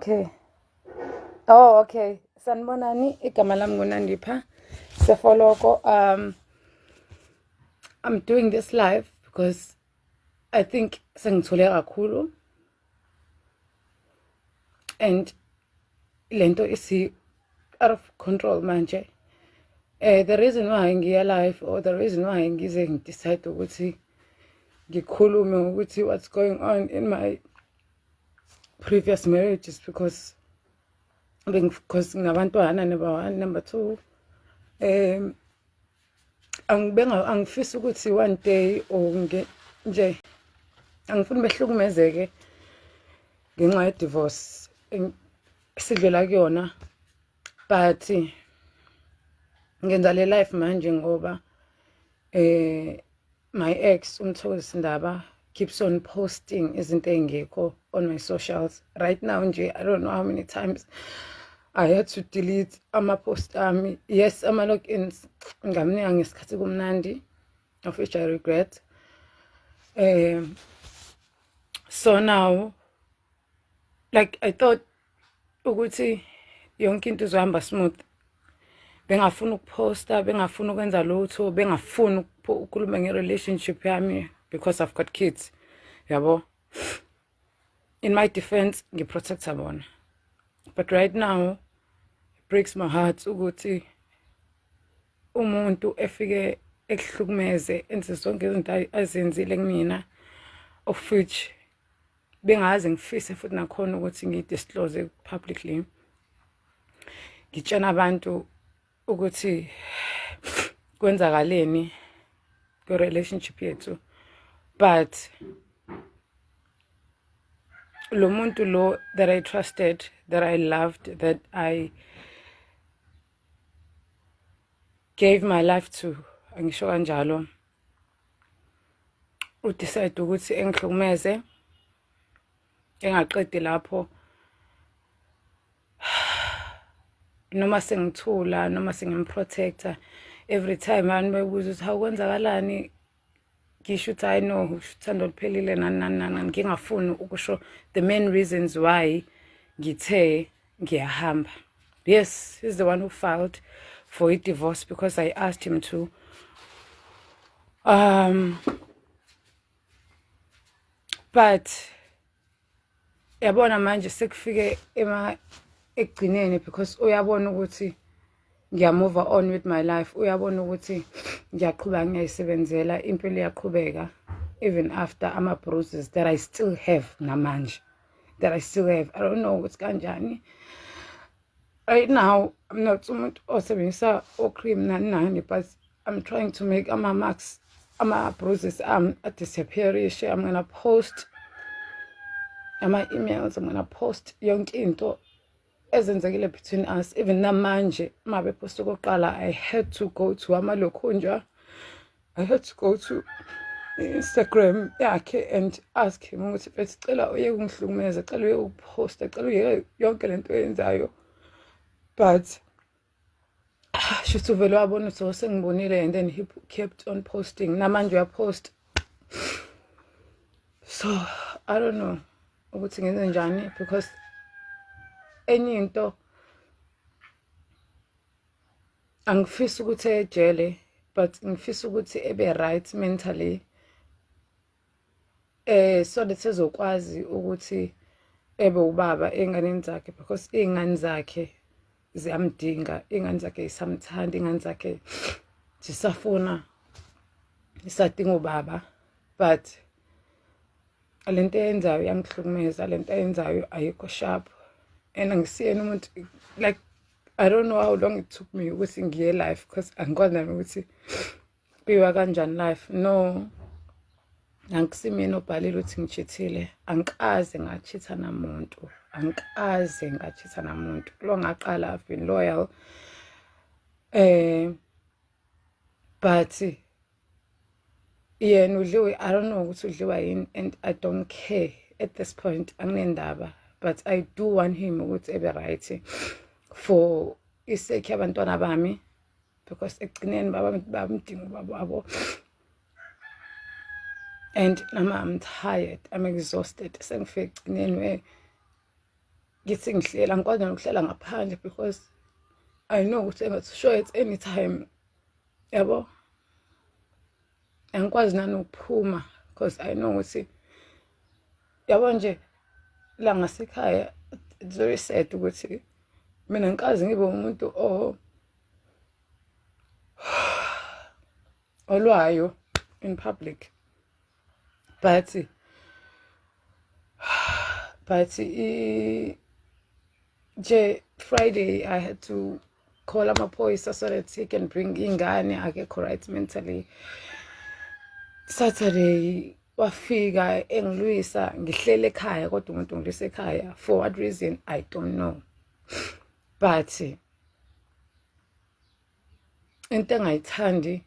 Okay. Oh, okay. Sanibonani, igama lami nguNandipha Sefoloko. Um I'm doing this live because I think sengithule kakhulu and lento isi out of control manje eh the reason why ngiya live or the reason why ngize ngidecide ukuthi ngikhulume ukuthi what's going on in my previous marriage is because because nginabantwana number one number two um angibenga angifisi ukuthi one day or nge nje angifuni behlukumezeke ngenxa ye divorce sidlula kuyona but ngenza le life manje ngoba eh My ex uMthokozisi Ndaba keeps on posting izinto engekho on my socials right now nje i don't know how many times i had to delete ama-post ami yes ama-logins ngamnika ngesikhathi kumnandi of which i regret um so now like i thought ukuthi yonke into izohamba smooth bengafuni ukuphosta bengafuni ukwenza lutho bengafuni ukukhuluma nge-relationship yami because i've got kids yabo in my defense ngiprotecta bona but right now breaks my heart ukuthi umuntu efike ekuhlukumeze enze zonke izinto azenzile kumina of which bengaze ngifise futhi nakhona ukuthi ngidisclose publicly ngitshena abantu ukuthi kwenzakaleni kwi-relationship yethu but lo muntu lo that i trusted that i loved that i gave my life to angisho kanjalo udecide ukuthi engihlukumeze engaqedi lapho noma sengithula noma sengimprotecta every time abantu bebuza ukuthi hawu kwenzakalani ngisho ukuthi hayi no uthando oluphelile nani nani nani ngingafuni ukusho the main reasons why ngithe ngiyahamba yes he's the one who filed for i-divorce because i asked him to um but yabona manje sekufike ema ekugcineni because uyabona ukuthi ngiyamove on with my life uyabona ukuthi ngiyaqhubeka ngiyayisebenzela impilo iyaqhubeka even after ama-bruises that i still have namanje that i still have i don't know ukuthi kanjani right now i'm not umuntu osebenzisa ocream nani nani but i'm trying to make ama-marks ama-bruises am adisappearishe i'm gonna post ama-emails i'm gonna post yonke into ezenzekile between us even namanje uma bephosta okokuqala i had to go to amalokhunjwa i had to go to instagram yakhe and ask him ukuthi bethi cela uye kungihlukumeza cela uye ukuphosta cela uyeke yonke le nto oyenzayo but Ah, shuthi uvele wabona ukuthi oh, sengibonile and then he kept on posting namanje uyapost so i don't know ukuthi ngenze njani because enye into angifisi ukuthi ejele but ngifisa ukuthi ebe right mentally eh so that ezokwazi ukuthi ebe ubaba enganeni zakhe because iy'ngane zakhe ziyamdinga iy'ngane zakhe yisamthanda iy'ngane zakhe zisafuna isadinga ubaba but le nto eyenzayo iyangihlukumeza le nto eyenzayo ayikho sharp and angisiyena umuntu like i don't know how long it took me ukuthi ngiye life because angikwazi nami ukuthi Biwa kanjani life no angisimina obhalile ukuthi ngijithile angikaze ngachitha namuntu angikaze ngachitha namuntu lo ngaqala i've been loyal eh but yena udliwe i don't know ukuthi udliwa yini and i don't care at this point anginendaba but i do want him ukuthi ebe right for iseki abantwana bami because ekugcineni baba bamdinga ubaba wabo and nama i'm tired i'm exhausted sengifike ekugcineni we ngithi ngihlela ngikwazi nokuhlela ngaphandle because i know ukuthi engathi sure at any time yabo angikwazi nanokuphuma because i know ukuthi yabo nje la ngasekhaya it's very sad ukuthi mina ngikazi ngibe umuntu o olwayo in public but but nje friday i had to call amaphoyisa so that he can bring ingane akekho right mentally saturday wafika engilwisa ngihlele ekhaya kodwa umuntu ngilwisa ekhaya for what reason i don't know but into engayithandi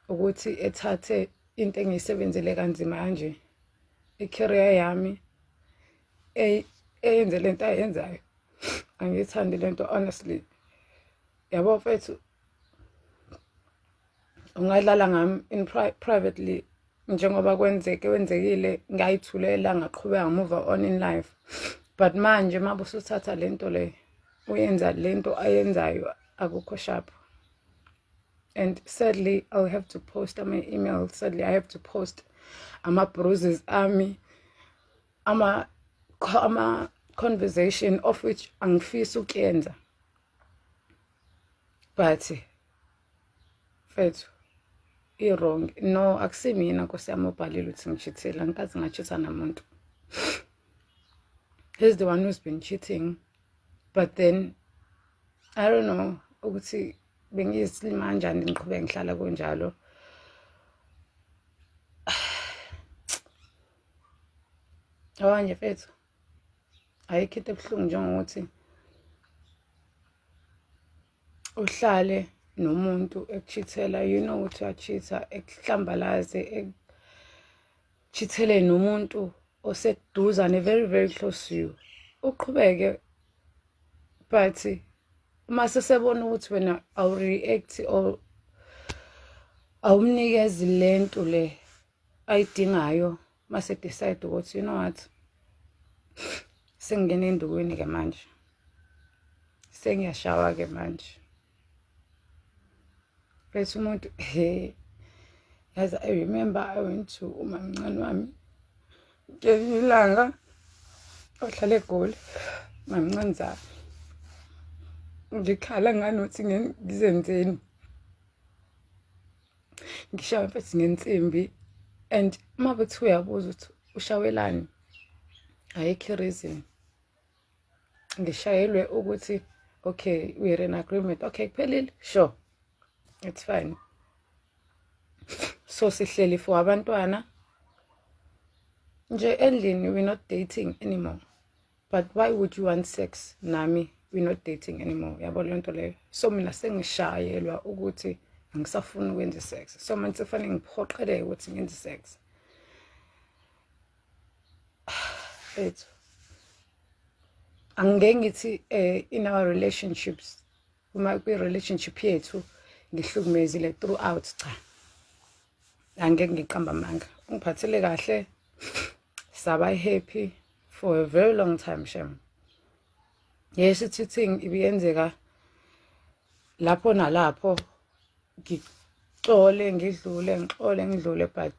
ukuthi ethathe into engiyisebenzele kanzima kanje i-career yami eyenze le nto ayenzayo angiyithandi le nto honestly yabo mfethu ungadlala ngami in pri privately njengoba kwenzeke wenzekile ngayithulela ngaqhubeka ngamuva on in life but manje uma busuthatha le nto le uyenza le nto ayenzayo akukho sharp and sadly i'll have to post ama-email sadly i have to post ama-bruises ami ama-conversation ama of which angifisi ukuyenza but mfethu i-wrong no akusimina nkosi yami obhalile ukuthi ngishithile angikaze ngashitha namuntu he's the one who's been cheating but then i don't know ukuthi bengiyisilima kanjani ngiqhubeke ngihlala kunjalo abanye mfethu ayikho into ebuhlungu njengokuthi uhlale nomuntu ekuchithela you know ukuthi uyachitha ekuhlambalaze ekuchithele nomuntu oseduzane very very close to you uqhubeke but uma sesebona ukuthi wena awureact or awumnikezi lento le ayidingayo uma sedecide ukuthi you know what sengingena endukwini-ke manje sengiyashawa-ke manje bese umuntu he yazi i remember i went to umamncane wami ngelinye ilanga ohlala egoli mamncane zami ngikhala nganothi ngizenzeni ngishawe mfethu ngensimbi and uma bethi uyabuza ukuthi ushawelani ayikho i-reason ngishayelwe ukuthi okay we're in agreement okay kuphelile sure it's fine so sihleli for abantwana nje endlini we're not dating anymore but why would you want sex nami we not dating anymore yabo leyo nto leyo so mina sengishayelwa ukuthi angisafuni ukwenza isex so manje sekufanele ngiphoqeleke ukuthi ngenze isex ethu angeke ngithi eh, in our relationships uma kwi-relationship yethu ngihlukumezile throughout cha angeke ngiqamba amanga ungiphathele kahle saba happy for a very long time shem yes i-cheating ibiyenzeka lapho nalapho ngixole ngidlule ngixole ngidlule but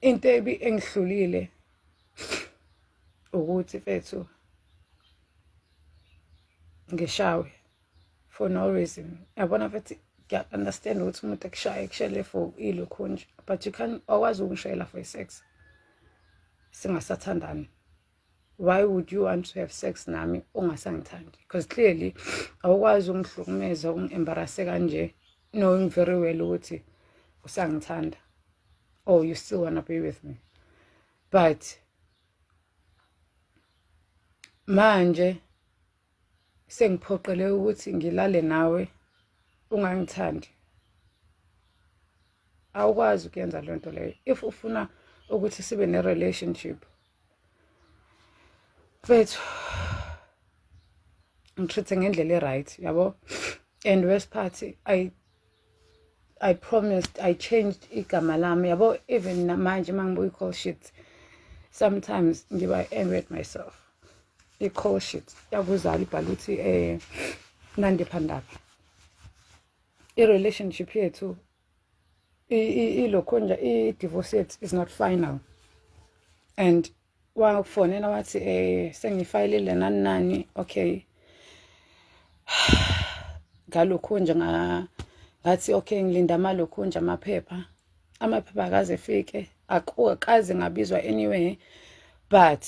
into ebi engihlulile ukuthi fethu ngishawe for no reason yabona futhi ngiya-understand ukuthi umuntu ekushaye kushele for ilokhu nje but you can awukwazi ukungishayela for i-sex singasathandani why would you want to have sex nami ungasangithandi because clearly awukwazi ungihlukumeza ungi-embarase kanje knowing very well ukuthi usangithanda or oh, you still wanna be with me but manje sengiphoqele ukuthi ngilale nawe ungangithandi awukwazi ukuyenza loo nto leyo if ufuna ukuthi sibe ne-relationship mfethu ngitreat-e ngendlela e-right yabo and worst part I promised I changed igama lami yabo even namanje mangibuka i-call sheet sometimes ngiba angry at myself i-call sheet yakuzala ibhala ukuthi eh Nandi Phandaba i-relationship yethu ilokho nje i-divorce yethu is not final and wafonela wathi eh sengifayilile nani nani okay ngalokhu nje ngathi okay ngilinda amalokhu nje amaphepha amaphepha akaze fike akukaze ngabizwa anyway but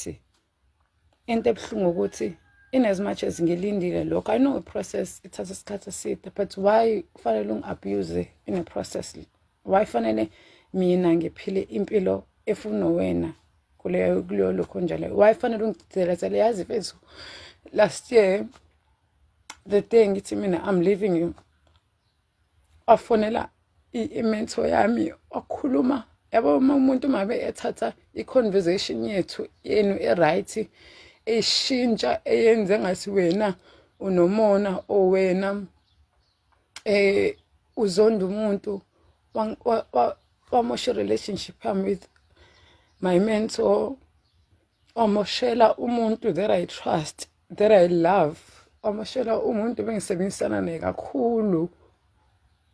into ebuhlungu ukuthi in as much as ngilindile lokho i know a process ithatha isikhathi eside but why kufanele ungi-abuse in a process Why fanele mina ngiphile impilo efuna wena kuleyo kuleyo lokho njalo why fanele ungigcizelezele yazi mfethu last year the day ngithi mina i'm leaving you wafonela imentor yami wakhuluma yabo uma umuntu mabe ethatha i-conversation yethu yenu e-right eshintsha eyenze ngathi wena unomona owena eh uzonda umuntu wamosha relationship yami with my mentor wamoshela umuntu that i trust that i love wamoshela umuntu bengisebenzisana naye kakhulu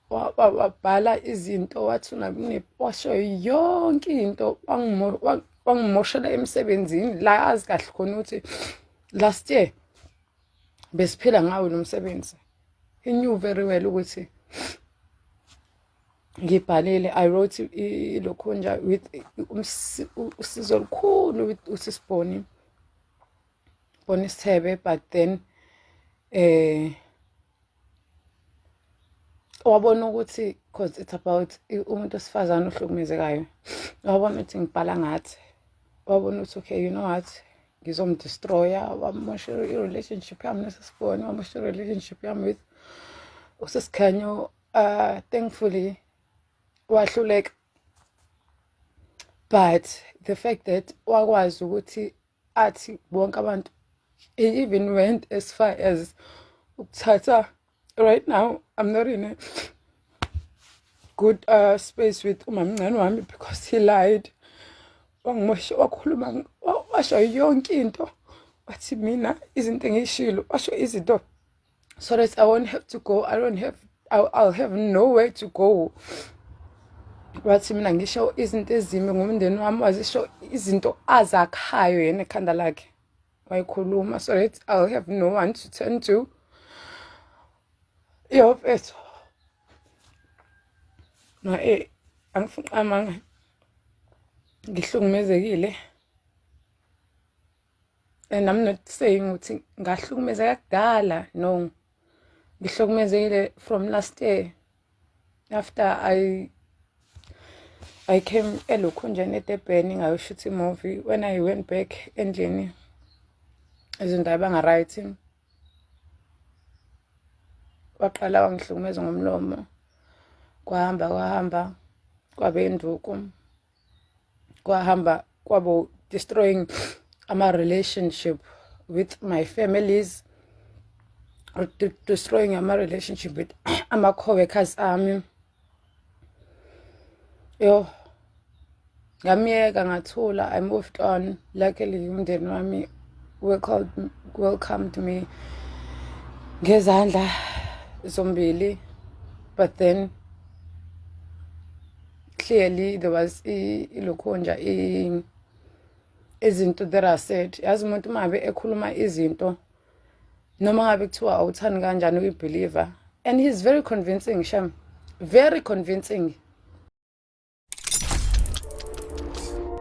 wabhala izinto wathi unabunepwasho yonke into wangimoshela emsebenzini la azi kahle khona ukuthi last year besiphila ngawo lo msebenzi he knew very well ukuthi ngibhalile i wrote ilokhunja with usizo olukhulu with usisiboni boni sithebe but then eh wabona ukuthi cause it's about umuntu osifazane ohlukumezekayo wabona ukuthi ngibhala ngathi wabona ukuthi okay you know what ngizomdestroya wamosha i-relationship yami nesesibone wamosha i-relationship yami with usesikhanyo uh, thankfully wahluleka but the fact that wakwazi ukuthi athi bonke abantu he even went as far as ukuthatha right now i'm not in a good uh, space with umamncane wami because he lied wangimosha wakhuluma washo yonke into wathi mina izinto engiyishilo washo izinto so that i won't have to go i don't have I'll, I'll have nowhere to go wathi mina ngisho izinto ezimbi ngomndeni wami wazisho izinto azakhayo yena ekhanda lakhe wayikhuluma so that i'll have no one to turn to yo mfethu na e angifuni qamanga ngihlukumezekile and i'm not saying ukuthi ngahlukumezeka kudala no ngihlukumezekile from last year after i i came elokhunjeni edebheni ngayoshutha imovie when i went back endlini izinto ayibanga-right waqala wangihlukumeza ngomlomo kwahamba kwahamba kwabe induku kwahamba kwabo destroying ama relationship with my families destroying ama relationship with ama coworkers ami yo ngamyeka ngathula i moved on luckily umndeni wami welcomed, welcomed me ngezandla zombili but then clearly there was ilokho nje izinto that are said yazi umuntu uma ngabe ekhuluma izinto noma ngabe kuthiwa awuthani kanjani uyibeliever and he's very convincing shem very convincing